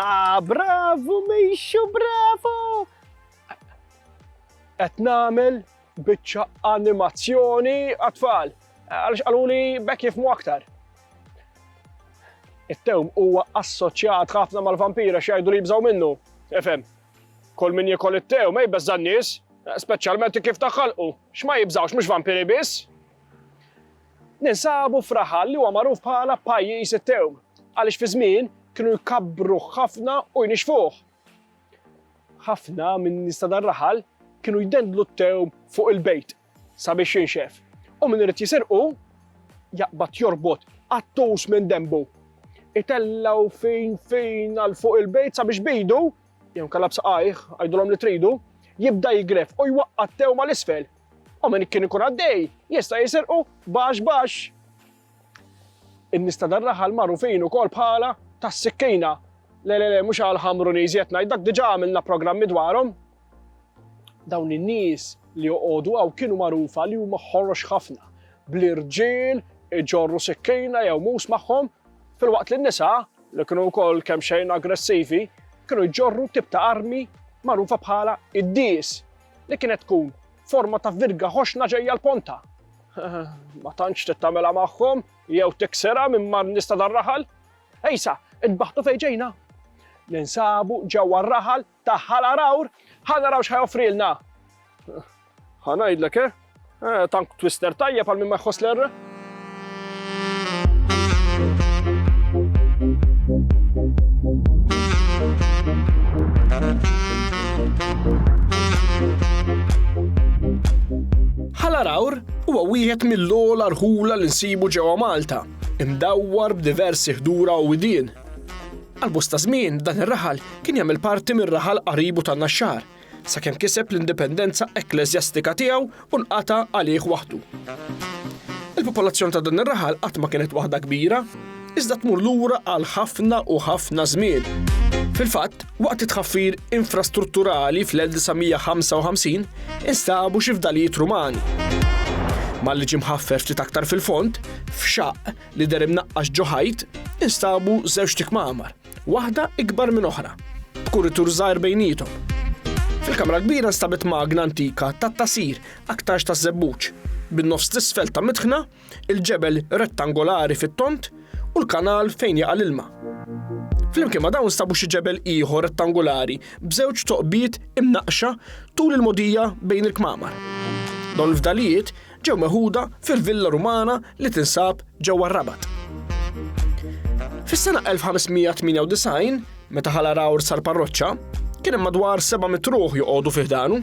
Ha, bravo, mejxu, bravo! Qed nagħmel biċċa animazzjoni għat-tfal. Għaliex qaluli bekk jifmu aktar. It-tewm huwa assoċjat ħafna mal-vampira x'jgħidu li jibżgħu minnu. Efhem. Kol min jikol it-tewm, ej beżżan nies, speċjalment kif taħħalqu. X'ma jibżgħux mhux vampiri biss. Ninsabu f'raħal li huwa magħruf bħala pajjiż it-tewm għaliex fi żmien kienu jkabbruh ħafna u jnixxfuh. Ħafna min-nies ta' dan raħal kienu jdendlu t-tewm fuq il-bejt sabiex jinxef u min irid jisirqu jaqbad jorbot qattus minn denbu. Itellaw fin fin għal fuq il-bejt sabiex bidu, jew kalab saqajh, għajdulhom li tridu, jibda jigref u jwaqqa' t-tewma l-isfel u min kien ikun għaddej jista' jisirqu baxx baxx. In-nies ta' dan raħal magħrufin ukoll bħala tas-sikkina. Le le le mhux għal ħamru nies qed ngħid dak diġà għamilna programmi dwarhom. Dawn in-nies li joqogħdu hawn kienu magħrufa li huma ħorox ħafna bl-irġiel iġorru sikkina jew mus magħhom fil-waqt li n-nisa li kienu wkoll kemm xejn aggressivi kienu jġorru tip ta' armi magħrufa bħala id-dies li kienet tkun forma ta' virga ħoxna ġejja l-ponta. Ma tantx tittamela magħhom jew tiksera minn mar nista dar-raħal. Ejsa, id-baħtu fejn ġejna. Ninsabu ġewwa r-raħal ta' ħala rawr, ħa naraw x'ħajofrilna. Ħa ngħidlek eh? Eh, tank twister tajjeb għal min ma jħoss l-R. Ħalarawr huwa wieħed mill-ogħla rħula li nsibu ġewwa Malta, imdawwar b'diversi ħdura u widien. Għal-bosta żmien dan ir-raħal kien jagħmel parti mir-raħal qaribu tan-Naxxar Sakemm kiseb l-indipendenza ekkleżjastika tiegħu u nqata' għalih waħdu. Il-popolazzjoni ta' dan ir-raħal qatt ma kienet waħda kbira, iżda tmur lura għal ħafna u ħafna żmien. Fil-fatt, waqt it-tħaffir infrastrutturali fl-1955 instabu xi fdalijiet Rumani. Malli ġie mħaffer ftit aktar fil-fond, f'xaqq li der imnaqqax ġo ħajt, instabu żewġ tikmamar. Waħda ikbar minn oħra, b'kuritur żgħir bejniethom. Fil-kamra kbira nstabet magna antika tat-tasir aktarx taż-żebbuġ, bin-nofs t'isfel ta' mitħna, il-ġebel rettangolari fit-tond u l-kanal fejn jaqa' l-ilma. Flimkien ma' dawn stabu xi ġebel ieħor rettangolari b'żewġ toqbiet imnaqqxa tul il-mogħdija bejn il-kmamar. Dawn il-fdalijiet ġew meħuda fil-villa Rumana li tinsab ġewwa r-Rabat. Fis-sena 1598, meta ħala Rawr sar parroċċa, kien hemm madwar seba' mitruħ joqogħdu fih danu.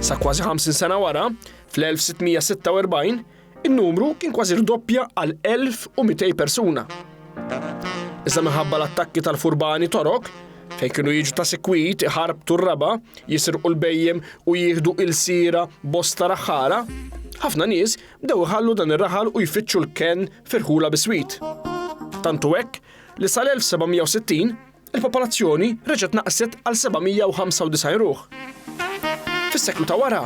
Sa kważi 50 sena wara, fl-1646, in-numru kien kważi rdoppja għal 1200 persuna. Iżda minħabba l-attakki tal-furbani torok, Fejn kienu jiġu ta' sikwit iħarbtu r-raba, jisirqu l-bejjem u jieħdu ilsiera bosta raħħala, ħafna nies bdew iħallu dan ir-raħal u jfittxu l-kenn f'irħula biswit. Tantu hekk li sal-1760 il-popolazzjoni reġgħet naqset għal 795 ruħ. Fis-seklu ta' wara,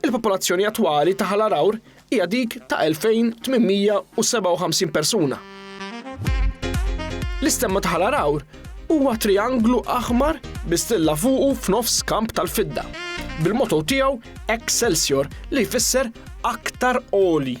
Il-popolazzjoni attwali ta' Ħal Għargħur hija dik ta' 2,857 persuna. L-istemma ta' Ħal Għargħur huwa trianglu aħmar bi stilla fuqu f'nofs kamp tal-fidda, bil-motto tiegħu Excelsior li jfisser aktar għoli.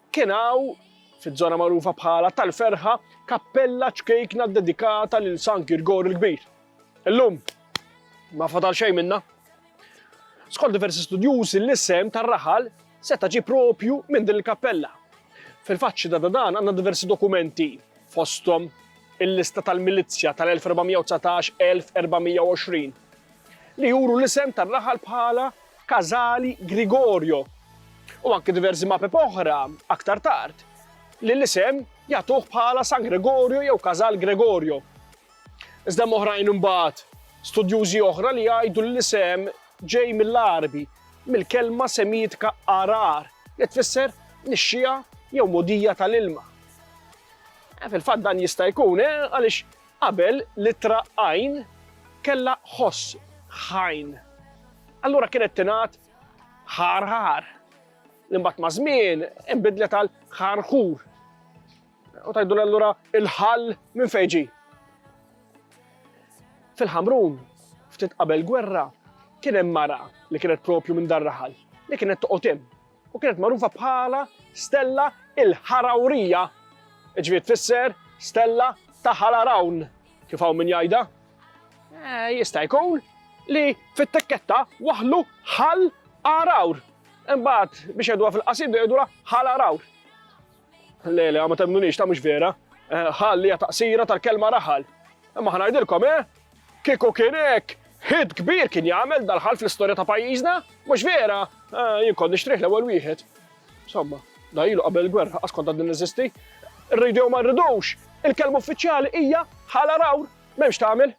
Kien hawn, fiż-żona magħrufa bħala tal-Ferħa, kappella ċkejkna ddedikata lil San Girgor il-Kbir. Illum, ma fadal xejn minnha. Skont diversi studjużi l-isem tar-raħal seta' ġie proprju minn din il-kappella. Fil-fatt xhieda ta' dan għandna diversi dokumenti, fosthom il-lista tal-milizzja tal-1419-1420, li juru l-isem tar-raħal bħala Casali Grigorio, u anki diversi mapep oħra aktar tard li l-isem jagħtuh bħala San Gregorio jew Casal Gregorio. Iżda hemm oħrajn imbagħad studjużi oħra li jgħidu li l-isem ġej mill-Għarbi, mill-kelma Semitika arar, li tfisser nixxiegħa jew mogħdija tal-ilma. Fil-fatt dan jista' jkun, eh, għaliex Qabel, l-ittra għajn kellha ħoss ħajn. Allura kienet tingħad ħarħar, li mbagħad maż-żmien inbidlet għal ħarħur. U tgħidulha allura il-ħall minn fejn ġie. Fil-Ħamrun, ftit qabel gwerra, kien hemm mara li kienet propju minn dar raħal, li kienet toqgħod hemm. u kienet magħrufa bħala Stella il-Ħarawrija, ġifieri tfisser Stella ta' Ħalarawn, kif hawn min jgħidha. Eh, jista' jkun li fit-tekketta waħlu ħal arawr. Imbagħad biex jgħiduha fil-qasid jgħidulha ħal arawr. Le, le, ma temnunix, ta' mhux vera. Eh, ħalli hija taqsira tal-kelma raħal. Imma ħanajdilkom, eh? Kieku kien hekk, ħid kbir kien jagħmel dal-ħal fl-istorja ta' pajjiżna, mhux vera, eh, jien kont nixtrih l-ewwel wieħed. Somma, da ilu qabel il-gwerra, askont għad niżisti. Rridu ma rridux, il-kelma uffiċjali hija ħala rawr, m'hemmx tagħmel.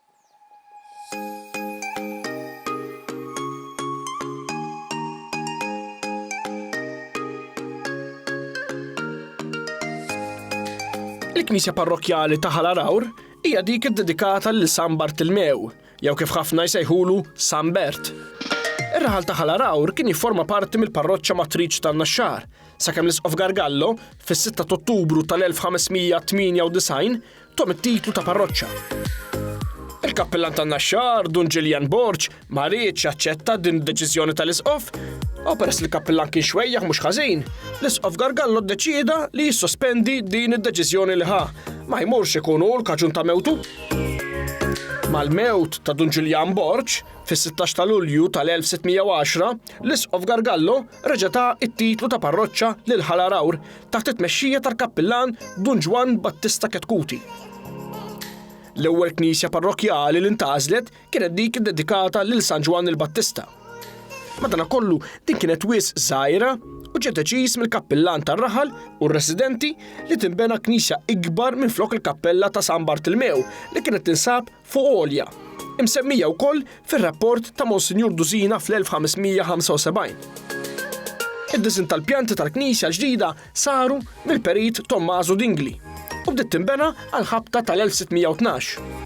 Il-Knisja Parrokkjali ta' Ħal Għawr hija dik iddedikata lil San Bartilmew, jew kif ħafna jsejħulu San Bert. Ir-raħal ta' Ħal Għawr kien jifforma parti mill-parroċċa matriċ tan-Naxxar, sakemm l-Isqof Gargallo fis-6 ta' Ottubru tal-1598 Tom it-titlu ta' parroċċa. Il-kappillan tan-Naxxar, Dun Ġiljan Borg, ma riedx jaċċetta din id-deċiżjoni tal-Isqof, u peress li l-kappillan kien xwejjaħ mhux ħażin, l-Isqof Gargallo ddeċieda li jissospendi din id-deċiżjoni li ħa, ma jmurx ikun hu l-kaġun ta' mewtu. Mal-mewt ta' Dun Ġiljan Borg, fis-16 ta' Lulju tal-1610, l-Isqof Gargallo reġa' ta' it-titlu ta' parroċċa lil Ħal Għargħur taħt it-tmexxija tal-Kappillan Dun Ġwann Battista Chetcuti. L-ewwel knisja parrokkjali li ntgħażlet kienet dik iddedikata lil San Ġwann il-Battista. Madanakollu din kienet wisq żgħira u ġie deċiż mill-Kappillan tar-raħal u r-residenti li tinbena knisja ikbar minflok il-kappella ta' San Bartilmew li kienet tinsab fuq għolja, imsemmija wkoll fir-rapport ta' Monsinjur Dusina fl-1575. Id-disinn tal-pjanti tal-knisja ġdida saru mill-perit Tommaso Dingli u bdiet tinbena għall-ħabta tal-1612.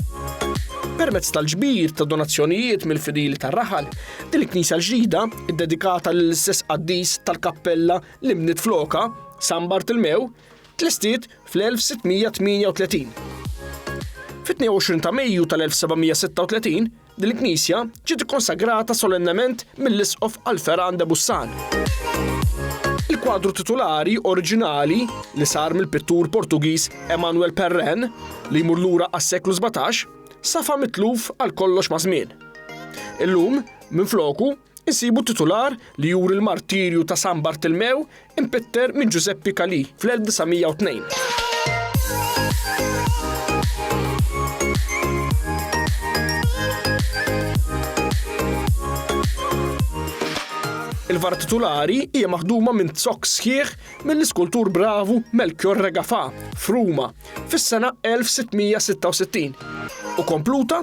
Permezz tal-ġbir ta' donazzjonijiet mill-fidili tar-raħal, din il-knisja l-ġdida, iddedikata lill-istess qaddis tal-kappella li nbniet flokha, San Bartilmew, tlestiet fl-1638. Fit-22 ta' Mejju tal-1736, din il-knisja ġiet ikkonsagrata solennement mill-Isqof Alferan de Bussan. Il-kwadru titulari oriġinali li sar mill-pittur Portugiż Emanuel Perren li jmur lura għas-seklu 17 safa mitluf għal kollox maż-żmien. Illum, minfloku, insibu titular li juri l-martirju ta' San Bartilmew impitter minn Ġużeppi Calì fl-1902. Il-vara titulari hija maħduma minn zokk sħiħ mill-iskultur bravu Melchior Regafà f'Ruma fis-sena 1666 u kompluta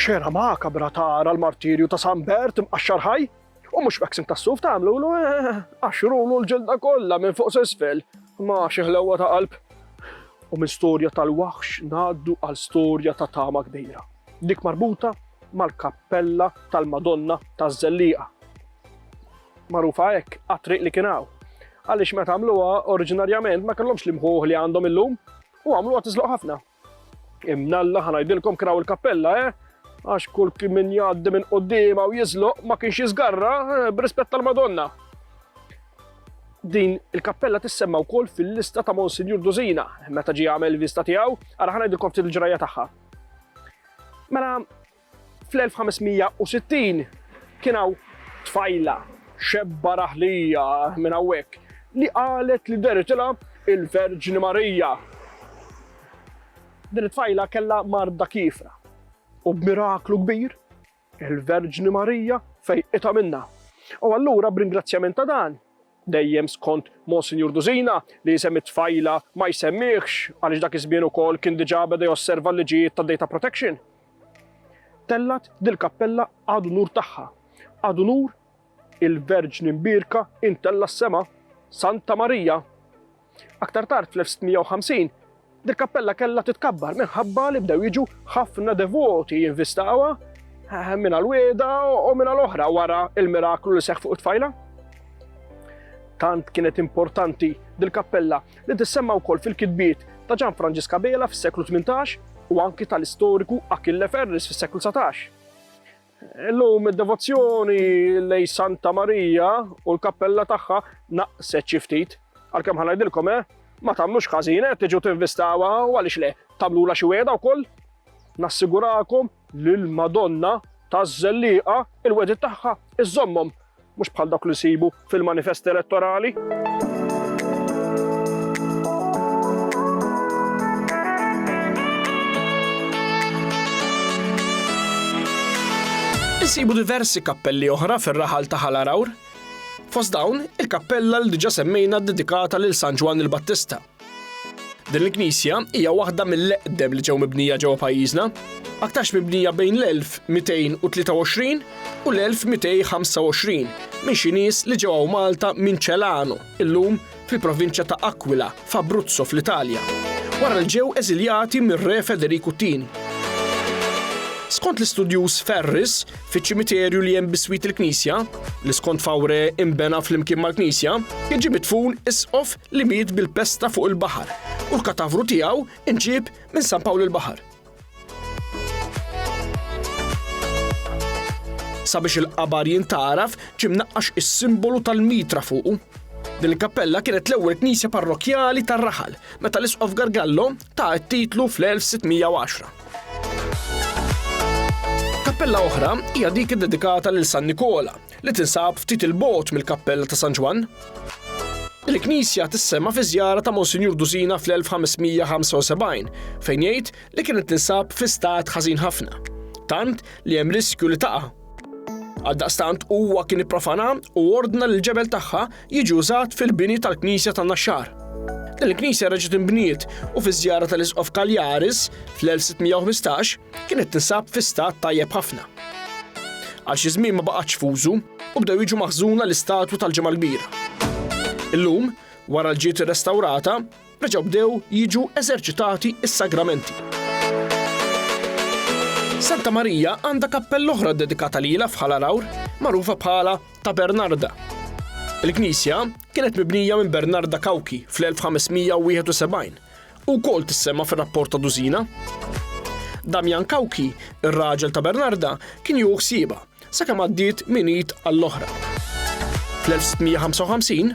Xena makabra tara l-martirju ta' San Bert mqaxxar ħaj u mhux vaccin tas-suf tagħmlu lu eh, għaxrulu l-ġilda kollha minn fuq s'isfel ma xi ħlewwa ta' qalb. U minn storja tal-waħx ngħaddu għal storja ta' tama kbira. Dik marbuta mal-kappella tal-Madonna taż-Żelliqa, magħrufa hekk għat-triq li kien hawn. Għaliex meta għamluha oriġinarjament ma kellhomx l-imħuħ li għandhom illum u għamluha tiżloq ħafna. Imnalla ħanajdilkom kraw il-kappella, eh? Għax kull min jgħaddi minn qoddima u jiżloq ma kienx jiżgarra eh, b'rispett tal-Madonna. Din il-kappella tissemma wkoll fil-lista ta' Monsignor Duzina, meta ġie għamel vista tiegħu, ara ħanajdilkom ftit il-ġrajja tagħha. Mela fl-1560 kien hawn tfajla xebba raħlija minn hawnhekk li qalet li deritilha l-Verġni Marija. Din it-tfajla kellha marda kiefra u b'miraklu kbir Il-Verġni Marija fejqitha minnha. U allura b'ringrazzjament ta' dan, dejjem skont Monsinjur Dużina li isem it-tfajla ma jsemmihx għaliex dak iż-żmien ukoll kien diġà beda josserva l-liġijiet tad-data protection, tellgħet dil-kappella ad unur tagħha, ad unur il-Verġni Mbierka intella s-sema, Santa Marija. Aktar tard fl-1650, dil-kappella kellha titkabbar minħabba li bdew jiġu ħafna devoti jinvistawha minn għal wieda u minn għal oħra wara il-miraklu li seħħ fuq it-tfajla. Tant kienet importanti dil-kappella li tissemma wkoll fil-kitbiet ta' Ġan Franġiska Bela fis-seklu 18 u anki tal-istoriku Achille Ferris fis-seklu 19. Illum id-devozzjoni lejn Santa Marija u l-kappella tagħha naqset xi ftit. Għalkemm ħa ngħidilkom eh, ma tagħmlux ħażin eh, tiġu tinvistawha u għaliex le, tagħmlula xi wegħda wkoll. Nassigurakom li l-Madonna taż-Żelliqa il-wedid tagħha iżommhom Mhux bħal dawk li nsibu fil-manifest elettorali. Insibu diversi kappelli oħra fir-raħal ta' Ħalarawr. Fost dawn, il-kappella li diġa semmejna dedikata lil San Ġwann il-Battista. Din il-knisja hija waħda mill-eqdem li ġew mibnija ġewwa pajjiżna, aktarx mibnija bejn l-1223 u l-1225 minn xi nies li ġew hawn Malta minn Celano, illum fil-provinċja ta' Aquila, f'Abruzzo fl-Italja, wara li ġew eżiljati mir-Re Federiku t-Tieni. Skont l-istudjuż Ferris, Fiċ-ċimiterju li hemm biswit il-knisja, li skont Fawre imbena flimkien mal-knisja, jiġi mitfun isqof li miet bil-pesta fuq il-baħar u l-katavru tiegħu inġib minn San Pawl il-Baħar. Sabiex il-qabar jintaraf ġim naqqax is-simbolu tal-mitra fuqu. Din il-kappella kienet l-ewwel knisja parrokjali tar-raħal meta l-isqof Gargallo ta' t-titlu fl-1610. Kappella oħra hija dik iddedikata lil San Nikola li tinsab ftit il-bot mill-Kappella ta' San Ġwann. Il-knisja tissema fi żjara ta' Monsinjur Dusina fl-1575 fejn jgħid li kienet tinsab fi stat ħażin ħafna, tant li hemm riskju li taqa'. Għaldaqstant huwa kien ipprofana u ordna li l-ġebel tagħha jiġi użat fil-bini tal-knisja ta' Naxxar. Din il-knisja reġgħet inbniet u fiż-żjara tal-Isqof Cagliaris fl-1615 kienet tinsab fi stat tajjeb ħafna. Għal xi żmien ma baqgħetx f'użu u bdew jiġu maħżuna l-istatwi tal-Ġimgħa l-Kbira. Illum, wara l-ġiet irrestawrata, reġgħu bdew jiġu eżerċitati s-sagramenti. Santa Marija għandha kappella oħra dedikata lilha f'Ħal Għawr, magħrufa bħala ta' Bernarda. Il-knisja kienet mibnija minn Bernarda Cauchi fl-1571 u wkoll tissemma fir-rapport ta' Dusina. Damian Cauchi, ir-raġel ta' Bernarda, kien jew ħsieba sakemm għaddiet minn id għall-oħra. Fl-1655,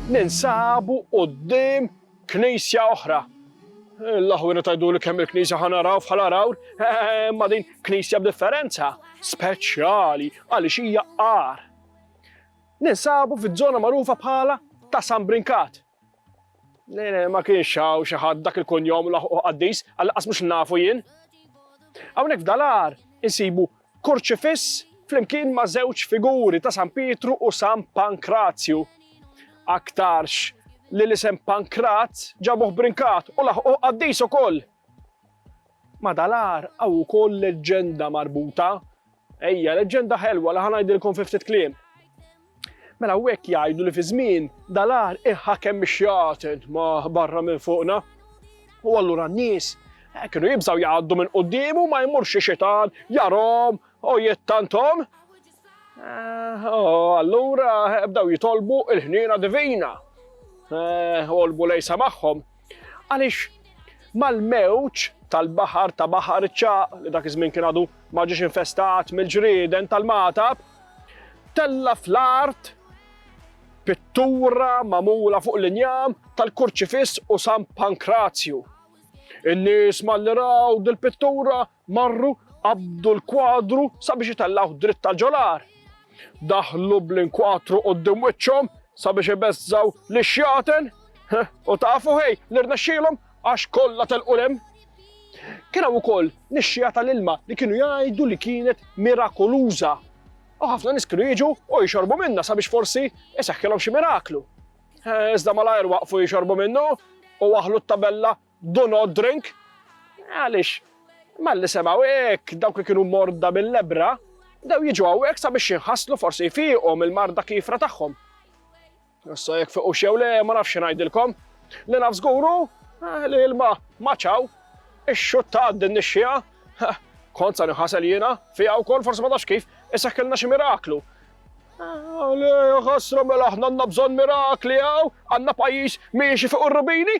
Ninsabu quddiem knisja oħra. L-aħwienet għiduli kemm il-knisja ħa naraw bħala rawr, imma din knisja b'differenza, speċjali għaliex hija għar. Ninsabu fiż-żona magħrufa bħala ta' San Brinkat. Ma kienx hawn xi ħadd dak il-kunjom laħqu qaddis, għal-qas mhux nafu jien. Hawnhekk f'dal-għar insibu Kurċifiss flimkien ma' żewġ figuri ta' San Pietru u San Pankrazju. Aktarx li l-isem Pankrat ġabuh brinkat u laħquh qaddis ukoll. Ma' dal-agħar hawn ukoll leġġenda marbuta. Ejja, leġġenda ħelwa li ħa ngħidilkom fi ftit kliem. Mela hawnhekk jgħidu li fi żmien dal-agħar iħakem ix-xjaten ma' barra minn fuqna. U allura n-nies eh, kienu jibżgħu jgħaddu minn quddiemu ma jmurx xi xitan jarhom u jittantom. Eh, oh, allura eh, bdew jitolbu il-ħniena divina. Olbu lejsa magħhom Għaliex mal-mewġ tal-baħar ta' Baħar iċ-Ċagħaq, li dak iż-żmien kien għadu ma ġiex infestat mill-ġrieden tal-magħtab, tella' fl-art pittura magħmula fuq l-injam tal-Kurċifiss u San Pankrazju. In-nies malli raw dil-pittura Marru, qabdu l-kwadru sabiex itellgħuh dritt ta' ġol-għar. Daħlu bl-inkwatru quddiem wiċċhom sabiex ibeżżgħu lix-xjaten. U tafu ħej li rnexxielhom għax kollha telqu 'l hemm. Kien hawn ukoll nixxiegħa tal-ilma li kienu jgħidu li kienet mirakoluża. U ħafna nies kienu jiġu u jxorbu minnha sabiex forsi iseħħilhom xi miraklu. Iżda malajr waqfu jxorbu minnu u waħlu t-tabella Do not drink. Għaliex, malli semgħu hekk, dawk li kienu morda bil-lebbra bdew jiġu hawnhekk sabiex jinħaslu forsi jfiequ mill-marda kiefra tagħhom. Issa jekk fiqu xew le ma nafx ngħidilkom. Li naf żguru eh, li ilma maċaw ix-xutta għad din nixxija. Kont sa nħasel jiena, fija wkoll forsi ma tafx kif, issa kellna xi miraklu. Għalli, ħasra mela ħna għanna bżon mirakli għaw, għanna pajis miexi fuq il-rubini,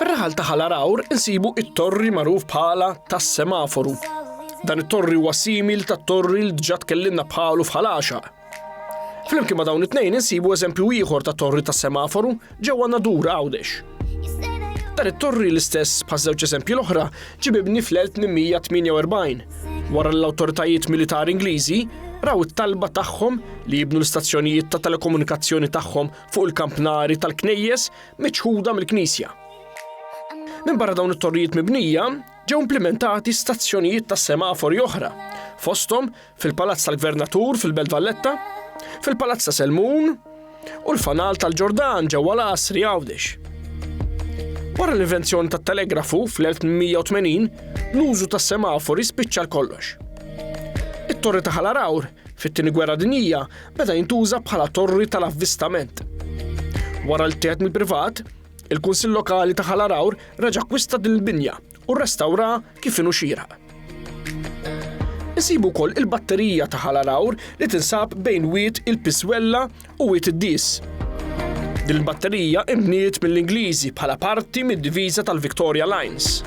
Fir-raħal ta' Ħal Għargħur insibu t-torri magħruf bħala tas-Semaforu. Dan it-torri huwa simil tat-torri li diġà tkellimna bħalu f'Ħal Għaxaq. Flimkien ma' dawn it-tnejn insibu eżempju ieħor ta' torri tas-Semaforu ġewwa Nadur Għawdex. Dan it-torri l-istess bħaż-żewġ eżempji l-oħra ġie mibni fl-1848 wara l-awtoritajiet militari Ingliżi raw it-talba tagħhom li jibnu l-istazzjonijiet ta' telekomunikazzjoni tagħhom fuq il-kampnari tal-knejjes miċħuda mill-Knisja. Minn barra dawn it-torrijiet mibnija, ġew implementati stazzjonijiet ta' semafori oħra, fosthom fil-Palazz tal-Gvernatur fil-Belt Valletta, fil-Palazz ta' Selmun u l-Fanal tal-Ġordan ġewwa l-Asri Għawdex. Wara l-invenzjoni tat-telegrafu fl-1880, l-użu tas semafori spiċċa kollox. It-torri ta' Ħalarawr Fit-Tieni Gwerra Dinjija beda jintuża bħala torri tal-avvistament. Wara li tieħed mill-privat, il-Kunsill Lokali ta' Ħal Għargħur reġa' akkwista din il-binja u rrestawraha kif inhu xieraq. Insibu wkoll il-batterija ta' Ħal Għargħur li tinsab bejn Wied il-Piswella u Wied id-Dies. Din il-batterija inbniet mill-Ingliżi bħala parti mid-diviża tal-Victoria Lines.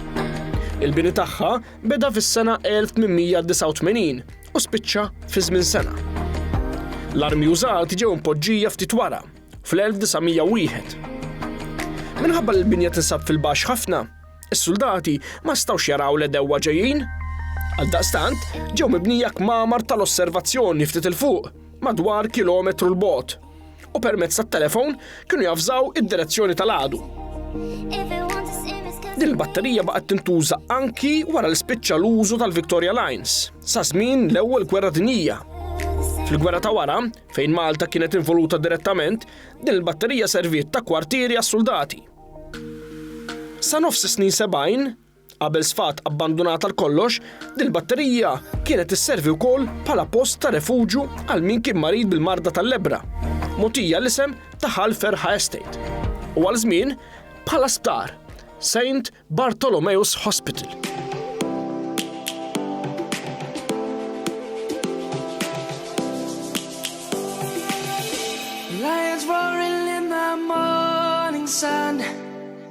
Il-bini tagħha beda fis-sena 1889 u spiċċa fi żmien sena. L-armi użati ġew impoġġija ftit wara, fl-1901. Minħabba li l-binja tinsab fil-baxx ħafna, is-suldati ma stawx jaraw l-edewwa ġejjin. Għaldaqstant, ġew mibnija kmamar tal-osservazzjoni ftit il-fuq, madwar kilometru l-bot. u permezz tat-telefon kienu javżaw id-direzzjoni tal-għadu. Din il-batterija baqgħet tintuża anki wara li spiċċa l-użu tal-Victoria Lines sa żmien l-Ewwel Gwerra Dinjija. Fil-gwerra ta' wara, fejn Malta kienet involuta direttament, din il-batterija serviet ta' kwartieri għas-suldati. Sa nofs snin 70, Qabel sfat abbandunat għal kollox, din il-batterija kienet isservi wkoll bħala post ta' refuġju għal min kien marid bil-marda tal-lebbra, mogħtija l-isem ta' Ħal Ferħa Estate, u għal żmien bħala sptar, Saint Bartholomeus Hospital. Lions roaring in the morning sun.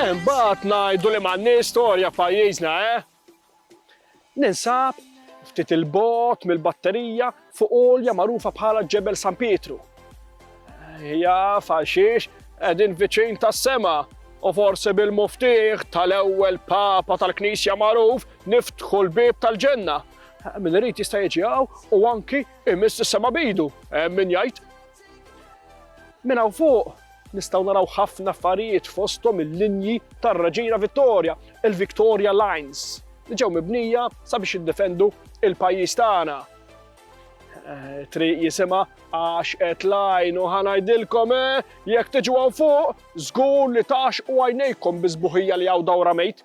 Imbagħad ngħidu li m'għandniex storja f'pajjiżna, eh? Ninsab ftit il-bot mill-batterija fuq olja magħrufa bħala Ġebel San Pietru. Hija faxiex qegħdin viċin tas-sema u forsi bil-muftiħ tal-ewwel papa tal-Knisja magħruf niftħu l-bib tal-ġenna. Min irid jista' jiġi u anki imiss is-sema bidu, min jgħid Minn hawn fuq nistgħu naraw ħafna affarijiet fosthom il-linji tar-Reġina Vittoria, il-Victoria Lines, li ġew mibnija sabiex jiddefendu il-pajjiż tagħna. Eh, triq jisima għax qed lajn u ħanajdilkom eh, jekk tiġu għan fuq, żgur li tax u għajnejkom bizbuħija li għaw dawra mejt.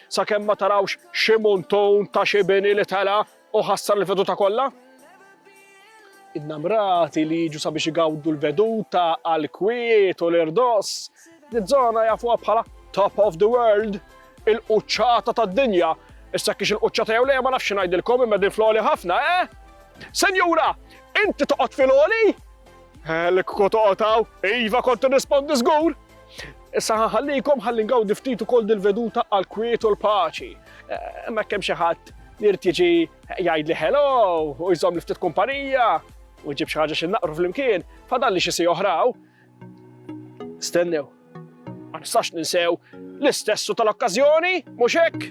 Sakemm ma tarawx xi muntun ta' xi bini li tela' u ħassar il-veduta kollha? Innamrati li jiġu sabiex igawdu l-veduta għall-kwiet u l-irdoss, diż-żona jafuha bħala top of the world, il-quċċata tad-dinja. Issa jekk hix il-quċċata jew le ma nafx xi ngħidilkom imma din fl-għoli ħafna, eh? Senjura, inti toqgħod fil-għoli? L-kku toqgħod hawn, iva kont nirrispondi żgur! Issa ħallikom ħalli ngawdi ftit ukoll dil-veduta għal kwiet u l-paċi. Imma eh, kemm xi ħadd li jrid jiġi jgħidli hello u jżomm li ftit kumpanija u jġib xi ħaġa xi naqru flimkien, fadalli xi si oħraw. Stennew, ma nistax ninsew l-istessu tal-okkażjoni, mhux hekk?